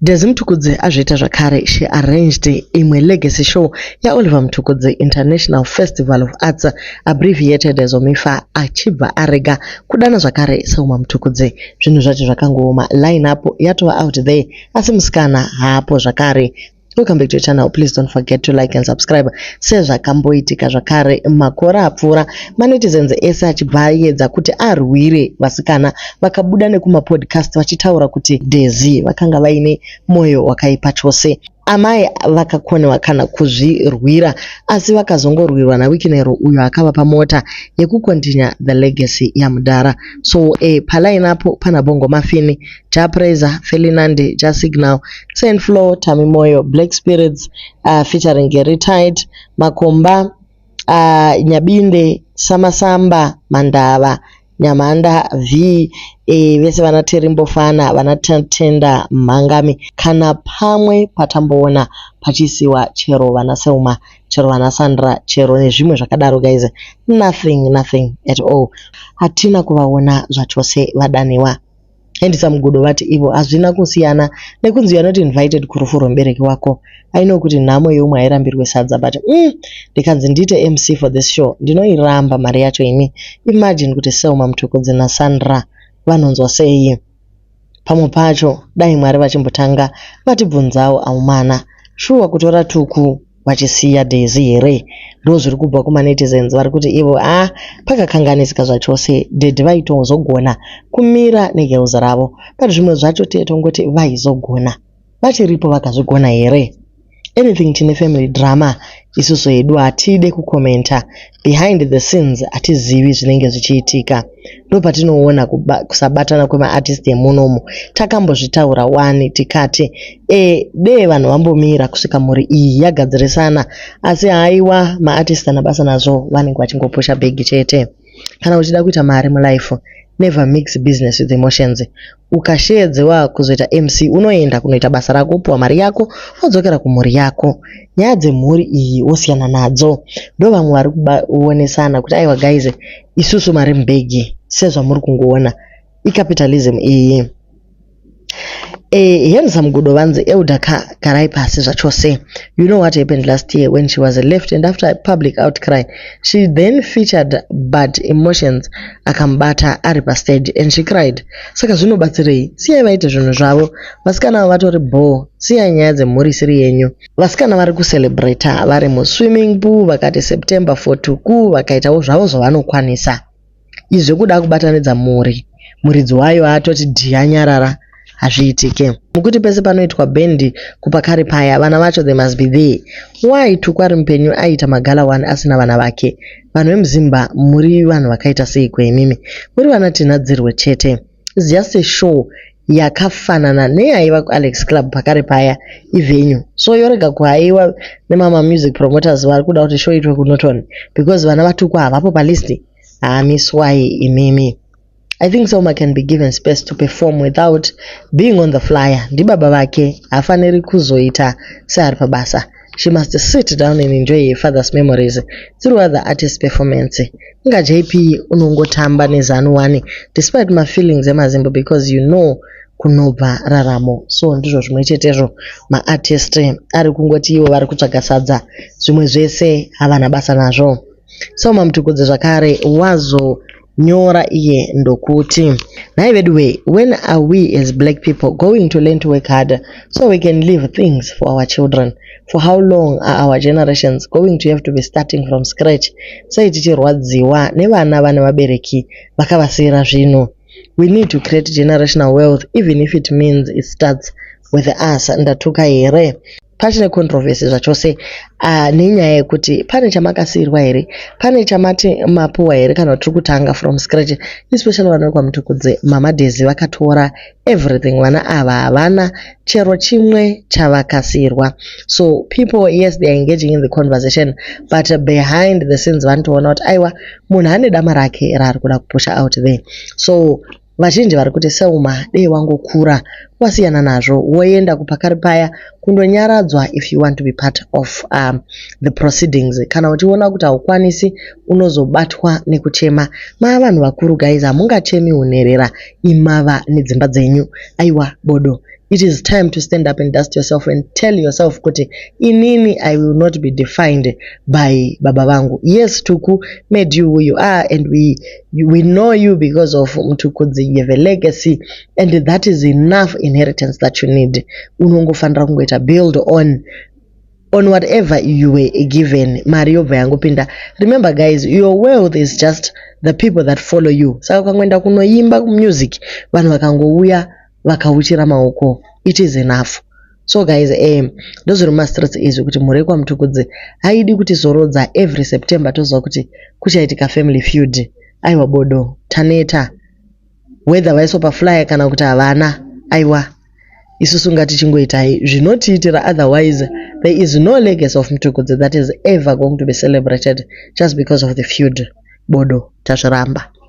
Dezzy Mtukudzi azviita zvakare, she arranged imwe legacy show yaOliver Mtukudzi International Festival of Arts, abbreviated as OMIFA, achibva arega kudana zvakare Selma Mtukudzi. Zvinhu zvacho zvakangooma, line-up yatova out there asi musikana haapo zvakare. Welcome back to your channel. Please don't forget to like and subscribe. Sezvakamboitika zvakare makore apfuura manetizens ese achibva ayedza kuti arwire vasikana vakabuda nekumapodcast vachitaura kuti Dezi vakanga vaine moyo wakaipa chose. Amai vakakonewa kana kuzvirwira asi vakazongorwirwa naWikinero uyo akavapa mota yekukontinya the legacy yamudhara. So eh, palainapo pana Bongo Mafini Ja Praiser, Felinandi, Ja Signal, Saint Flo, Tami Moyo, Black Spirits uh, featuring Gary Tight, Makomba, uh, Nyabinde, Samasamba, Mandava, Nyamanda V e, vese vana Terimbofana, vana Tenda Mhangami kana pamwe patamboona pachisiwa chero vana Selma, chero vana Sandra, chero nezvimwe zvakadaro guys. Nothing, nothing at all. Hatina kuvaona zvachose vadaniwa. handsome gudo vati ivo hazvina kusiyana nekunzi you're not invited kurufu rwembereki wako i know kuti nhamo yeumwe hairambirwe sadza but mm, ndikanzi ndiite mc for this show ndinoiramba mari yacho ini imagine kuti selma muthokodzi nasandra vanonzwa sei pamwe pacho dai mwari vachimbotanga vatibvunzawo aumana shuwa kutora tuku vachisiya Daisy here ndozviri kubva kuma netizens vari kuti ivo a ah, pakakanganisika zvachose daddy vaitozogona kumira negirls ravo but zvimwe zvacho tiye tongoti vaizogona vachiripo vakazvigona here anything tine family drama isusu hedu hatide kukomenta behind the scenes hatizivi zvinenge zvichiitika ndopatinoona kusabatana kwemaartist emunomu takambozvitaura wani tikati e dee vanhu vambomira kusvika mhuri iyi yagadzirisana asi haiwa maartist ana basa nazvo vanenge vachingopusha bhegi chete kana uchida kuita mari mulife never mix business with emotions Ukasheedzewa kuzoita MC unoenda kunoita basa rako wopiwa mari yako wodzokera kumhuri yako. Nyaya dzemhuri iyi wosiyana nadzo. Ndovamwe vari kuonesana kuti aiwa guys isusu mari mubhegi sezvamuri kungoona. Icapitalism iyi. Eh, handsome gudo vanzi elder ka garai pasi zvachose. You know what happened last year when she was left and after a public outcry she then featured but emotions akamubata ari pastage and she cried. Saka zvinobatsirei? Siyai vaite zvinhu zvavo. Vasikana avo vatori bhoo. Siyai nyaya dzemhuri isiri yenyu. Vasikana vari kucelebrata vari muswimming pool vakati September for tuku vakaitawo zvavo zvavanokwanisa. Izvi zvekuda kubatanidza mhuri muridzi wayo atoti dhiya nyarara hazviitike. Mukuti pese panoitwa bhendi kupakari paya vana vacho they must be there. Why tuku ari mupenyu aiita magala wani asina vana vake? Vanhu vemuZimba muri vanhu vakaita seiko imimi? Muri vana Tinhadzirwe chete. It's just a show yakafanana neyaiva kuAlex Club pakare paya ivenue. So yorega kuhaiwa nemama music promoters vari kuda kuti show itwe kuNorton because vana vatukwa havapo palist. Hamiswai imimi. I think Selma can be given space to perform without being on the flyer. Ndibaba vake hafaniri kuzoita seari pabasa. She must sit down and enjoy her father's memories through other artist performance. Inga JP unongotamba nezanu wani despite my feelings emazimbo because you know kunobva raramo. So ndizvo zvimwe chetezvo maartist ari kungoti ivo vari kutsvaga sadza zvimwe zvese havana basa nazvo. Selma Mtukudze zvakare wazo nyora iye ndokuti nhai veduwee when are we as black people going to learn to work harder so we can leave things for our children for how long are our generations going to have to be starting from scratch sei tichirwadziwa nevana vane vabereki vakavasiyira zvinhu we need to create generational wealth even if it means it starts with us ndatuka here pachine controversy zvachose uh, nenyaya yekuti pane chamakasiirwa here pane chamati mapuwa here kana tiri kutanga from scratch especially vana vekwamutukudze mama dezi vakatora everything vana ava havana chero chimwe chavakasiirwa so people yes they are engaging in the conversation but behind the scenes vanotoona kuti aiwa munhu ane dama rake raari kuda kupusha out there so Vazhinji vari kuti Selma dei wangokura wasiyana nazvo woenda kupakari paya kundonyaradzwa if you want to be part of um, the proceedings. Kana uchiona kuti haukwanisi unozobatwa nekuchema. Maa vanhu vakuru guys hamungachemi unherera imava nedzimba dzenyu. Aiwa bodo. It is time to stand up and dust yourself and tell yourself kuti inini I will not be defined by baba vangu. Yes Tuku made you who you are and we we know you because of mtukudzi you have a legacy and that is enough inheritance that you need unongofanira kungoita build on on whatever you were given mari yobva yangopinda remember guys your wealth is just the people that follow you saka ukangoenda kunoimba kumusic vanhu vakangouya vakauchira maoko it is enough so guys um ndozviri mumastreets izvi kuti mhuri yekwamutukudzi haidi kuti zorodza every september toziva kuti kuchaitika family feud aiwa bodo taneta whether vaiso paflyer kana kuti havana aiwa isusu ngatichingoitai zvinotiitira otherwise there is no legacy of mtukudzi that is ever going to be celebrated just because of the feud bodo tazviramba